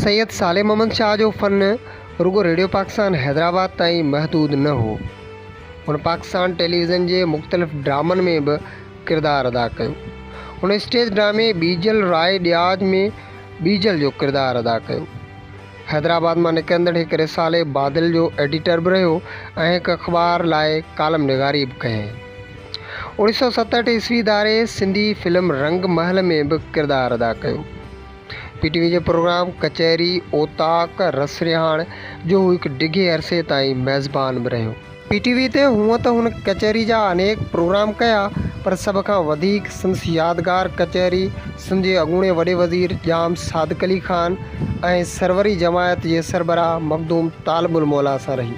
سيد صالح محمد شاهه جو فن رڳو ريڊيو پاڪستان حيدرآباد تائين محدود نه هو. هن پاڪستان ٽيليويزن جي مختلف ڊرامن ۾ به ڪردار ادا ڪيو. هن اسٽيج ڊرامي ٻيجل راء ڏياج ۾ ٻيجل جو ڪردار ادا ڪيو. حيدرآباد مان نڪرندڙ هڪ رسالي بادل جو ايڊيٽر به رهيو ۽ هڪ اخبار لاء ڪالم نگاري به ڪيائين. اوڻيهه سؤ ستهٺ عيسوي ڌاري سنڌي فلم رنگ محل ۾ به ڪردار ادا ڪيو. پي ٽي وي جي پروگرام ڪچهري اوطاق رسرهاڻ جو هو هڪ ڊگهي عرصي تائين ميزبان به رهيو. پي ٽي وي تي هونء ته هن ڪچهري جا انيڪ پروگرام ڪيا پر سڀ کان وڌيڪ سندس يادگار ڪچهري سنڌ جي اڳوڻي وڏي وزير ڄام صادق علي خان ۽ سروري جماعت جي سربراهه مخدوم طالب الموليٰ سان رهي.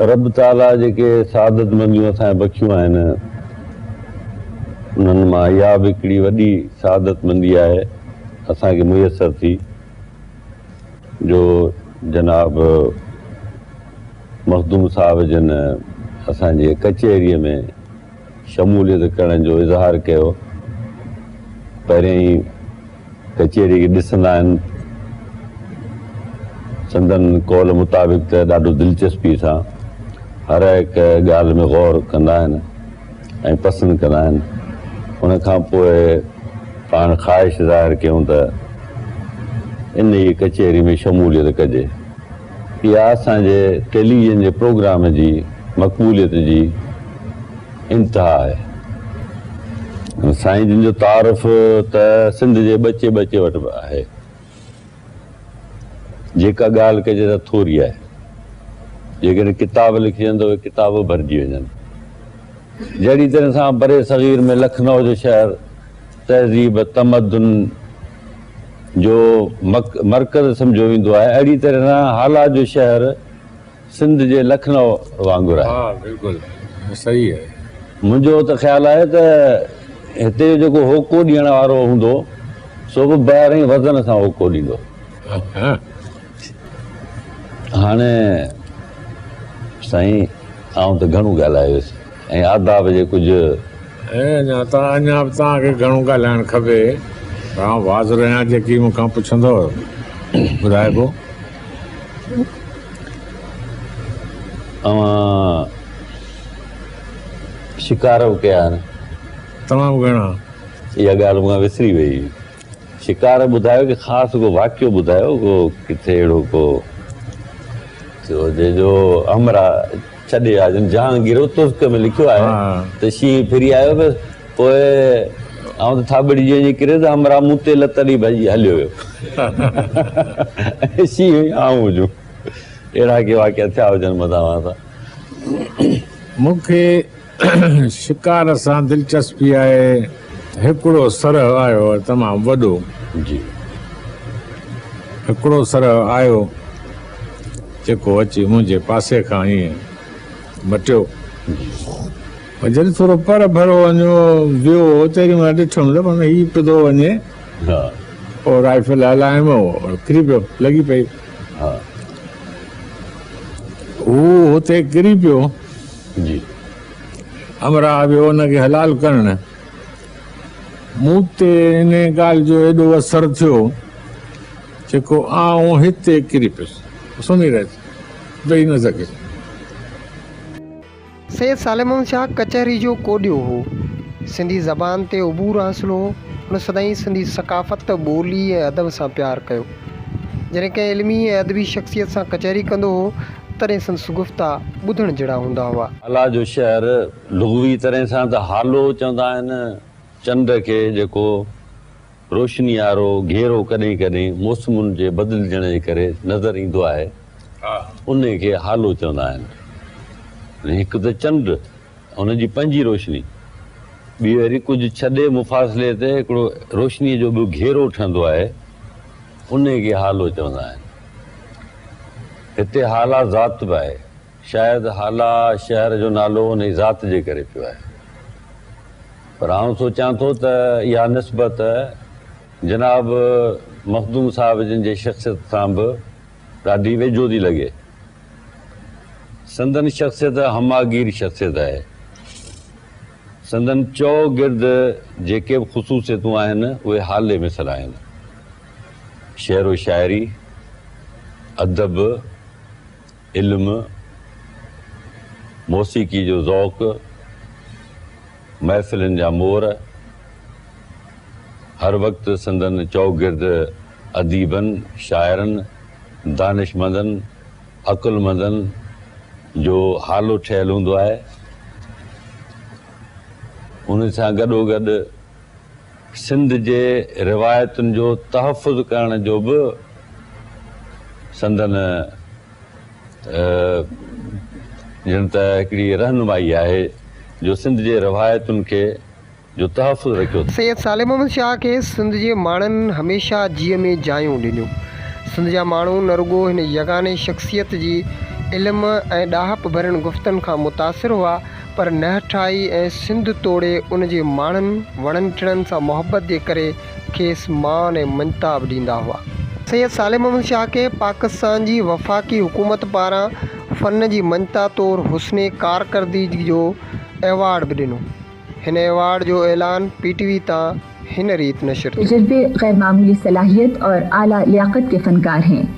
رب تعاليٰ جيڪي سعادت منديون اسان کي بخشيون آهن، انهن مان اها به هڪڙي وڏي سعادت مندي آهي اسان کي ميسر ٿي جو جناب مخدوم صاحب جن اسان جي ڪچهريء ۾. شموليت ڪرڻ جو اظهار ڪيو پهرين ئي ڪچهري کي ڏسندا آهن سندن قول مطابق ته ڏاڍو دلچسپي سان هر هڪ ڳالهه ۾ غور ڪندا آهن ۽ پسند ڪندا آهن ان کان پوء پاڻ خواهش ظاهر ڪيون ته ان ئي ڪچهري ۾ شموليت ڪجي اها اسان جي ٽيليويزن جي پروگرام جي مقبوليت جي انتها آهي. سائين جن جو تعارف ته سنڌ جي ٻچي ٻچي وٽ به آهي. جيڪا ڳالهه ڪجي ته ٿوري آهي. جيڪڏهن ڪتاب لکجن ته اهي ڪتاب به ڀرجي وڃن. جهڙي طرح سان برصغير ۾ لکنؤ جو شهر تهذيب، تمدن، جو مرڪز سمجهيو ويندو آهي، اهڙي طرح سان هالا جو شهر سنڌ جي لکنئو وانگر آهي. ها بلڪل صحيح آهي. منهنجو ته خيال آهي ته هتي جو جيڪو هوڪو ڏيڻ وارو هوندو سو به بهرئين وزن سان هوڪو ڏيندو. هاڻي سائين آئون ته گهڻو ڳالهايو ويس. ۽ آداب جي ڪجهه. اي اڃا ته اڃا به توهان کي گهڻو ڳالهائڻ کپي پر آئون حاضر آهيان جيڪي مون کان پڇندؤ ٻڌائبو. اوهان شڪار به ڪيا آهن. تمام گهڻا. اها ڳالهه مون کان وسري ويئي. شڪار ٻڌايو ڪي خاص ڪو واقعو ٻڌايو ڪو ڪٿي اهڙو ڪو ٿيو هجي جو همرا ڇڏي آ جن جهان گرو ترڪ ۾ لکيو آهي ته شينهن ڦري آيو بس پوء آئون ته ٿاٻڙي جي وڃي ڪري ته همرا مون تي لت ڏئي ڀڄي هليو ويو شينهن آئون هجون اهڙا ڪي واقعا ٿيا هجن مداوات مون کي شڪار سان دلچسپي آهي. هڪڙو سرهه آيو تمام وڏو. جي هڪڙو سرهه آيو جيڪو اچي منهنجي پاسي کان ائين مٽيو. جي جڏهن ٿورو پر ڀرو وڃو ويو تيڏي مهل ڏٺم ته معنيٰ هي پڌو وڃي ها پوء رائفل هلايم او ڪري پيو لڳي پئي ها هو هتي ڪري پيو. جي همراهه به ان کي حلال ڪرڻ مون تي ان ڳالهه جو ايڏو اثر ٿيو جيڪو آئون هتي ڪري پيس سمهي رهيس ويهي نه سگهيس. سيد سالمون شاهه ڪچهري جو ڪوڏيو هو. سنڌي زبان تي عبور حاصل هو. هن سدائين سنڌي ثقافت، ٻولي ۽ ادب سان پيار ڪيو. جڏهن ڪنهن علمي ۽ ادبي شخصيت سان ڪچهري ڪندو هو، تڏهن سندس گفتا ٻڌڻ جهڙا هوندا هئا. هالا جو شهر لغوي طرح سان ته هالو چوندا آهن، چنڊ کي جيڪو روشني وارو گهيرو ڪڏهن ڪڏهن موسمن جي بدلجڻ جي ڪري نظر ايندو آهي، انهي کي هالو چوندا آهن. هڪ ته چنڊ. هن جي پنهنجي روشني ٻيهر ڪجهه ڇڏي مفاصلي تي هڪڙو روشنيء جو ٻيو گهيرو ٺهندو آهي، انهي کي هالو چوندا آهن. هتي هالا ذات به آهي. شايد هالا شهر جو نالو انهي ذات جي ڪري پيو آهي. پر آئون سوچيان ٿو ته اها نسبت جناب مخدوم صاحب جن جي شخصيت سان به ڏاڍي ويجهو ٿي لڳي. سندن شخصيت همهگير شخصيت آهي. سندن چئو گرد جيڪي به خصوصيتون آهن اهي حالي مثل آهن. شعر و شاعري، ادب، علم، موسيقي جو ذوق، محفلن جا مور هر وقت سندن چؤگرد اديبن، شاعرن، دانشمندن، عقلمندن جو هالو ٺهيل هوندو آهي. ان سان گڏوگڏ سنڌ جي روايتن جو تحفظ ڪرڻ جو به سندن ڄڻ ته هڪڙي رهنمائي آهي جو سنڌ جي روايتن کي جو تحفظ رکيو ٿو. سيد صالح محمد شاهه کي سنڌ جي ماڻهن هميشه جيء ۾ جايون ڏنيون. سنڌ جا ماڻهو نه رڳو هن يگاني شخصيت جي علم ۽ ڏاهپ ڀرين گفتن کان متاثر هئا پر نهٺائي ۽ سنڌ توڙي ان جي ماڻهن، وڻن ٽڻن سان محبت جي ڪري کيس مان ۽ منتاب ڏيندا هئا. سيد صالح محمد شاهه کي پاڪستان جي وفاقي حڪومت پاران فن جي مڃتا طور حسن ڪارڪردگي جو ايوارڊ به ڏنو. هن ايوارڊ جو اعلان پي ٽي وي تان هن ريت نشر ٿيو. تجربي، غير معمولي صلاحيت اور اعليٰ لياقت ڪي فنڪار هين.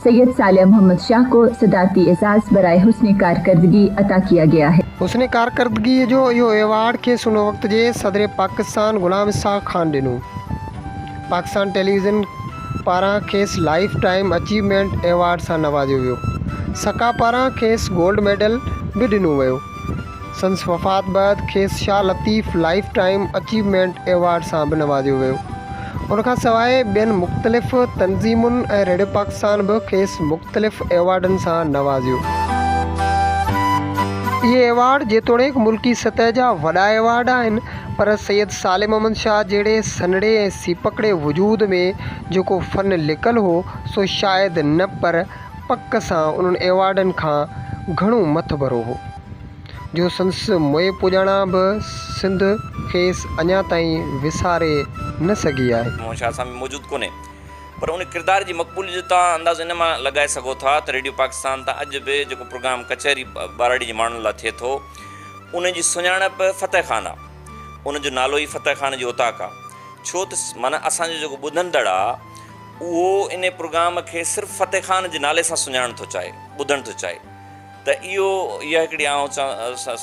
سيد صالح محمد شاهه ڪو صدارتي اعزاز برائي حسن ڪارڪردگي عطا ڪيا گيا هي. حسن ڪارڪردگي جو اهو ايوارڊ کيس ان وقت جي صدر پاڪستان غلام اسحاق خان ڏنو. پاڪستان ٽيليويزن پاران کيس لائيف ٽائيم اچيومينٽ ايوارڊ سان نوازيو ويو. سڪا پاران کيس گولڊ ميڊل به ڏنو ويو. سندس وفات بعد کيس Shah Latif lifetime achievement award سان به نوازيو ويو. ان کان سواء ٻين مختلف تنظيمن ۽ ريڊيو پاڪستان به کيس مختلف ايوارڊن سان نوازيو. اهي ايوارڊ جيتوڻيڪ ملڪي سطح جا وڏا ايوارڊ آهن پر سيد صالح محمد شاهه جهڙي سنهڙي ۽ سيپڪڙي وجود ۾ جيڪو فن لڪل هو سو شايد نه پر پڪ سان انهن ايوارڊن کان گهڻو مٿ ڀرو هو، جو سندس موئي پڄاڻا به سنڌ کيس اڃا تائين وساري نه سگهي آهي. مون شاهه سان به موجود ڪونهي، پر ان ڪردار جي مقبوليت جو توهان اندازو ان مان لڳائي سگهو ٿا ته ريڊيو پاڪستان تان اڄ به جيڪو پروگرام ڪچهري ٻهراڙي جي ماڻهن لاء ٿئي ٿو، ان جي سڃاڻپ فتح خان آ. ان جو نالو ئي فتح خان جي اوطاق آ. ڇو ته معنيٰ اسان جو جيڪو ٻڌندڙ آ، اهو انهي پروگرام کي صرف فتح خان جي نالي سان سڃاڻڻ ٿو چاهي، ٻڌڻ ٿو چاهي ته اهو اها هڪڙي آئون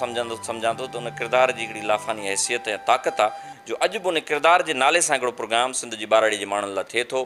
سمجهندو سمجهان ٿو ته ان ڪردار جي هڪڙي لافاني حيثيت ۽ طاقت آ جو اڄ به ان ڪردار جي نالي سان هڪڙو پروگرام سنڌ جي ٻهراڙي جي ماڻهن لا ٿئي ٿو.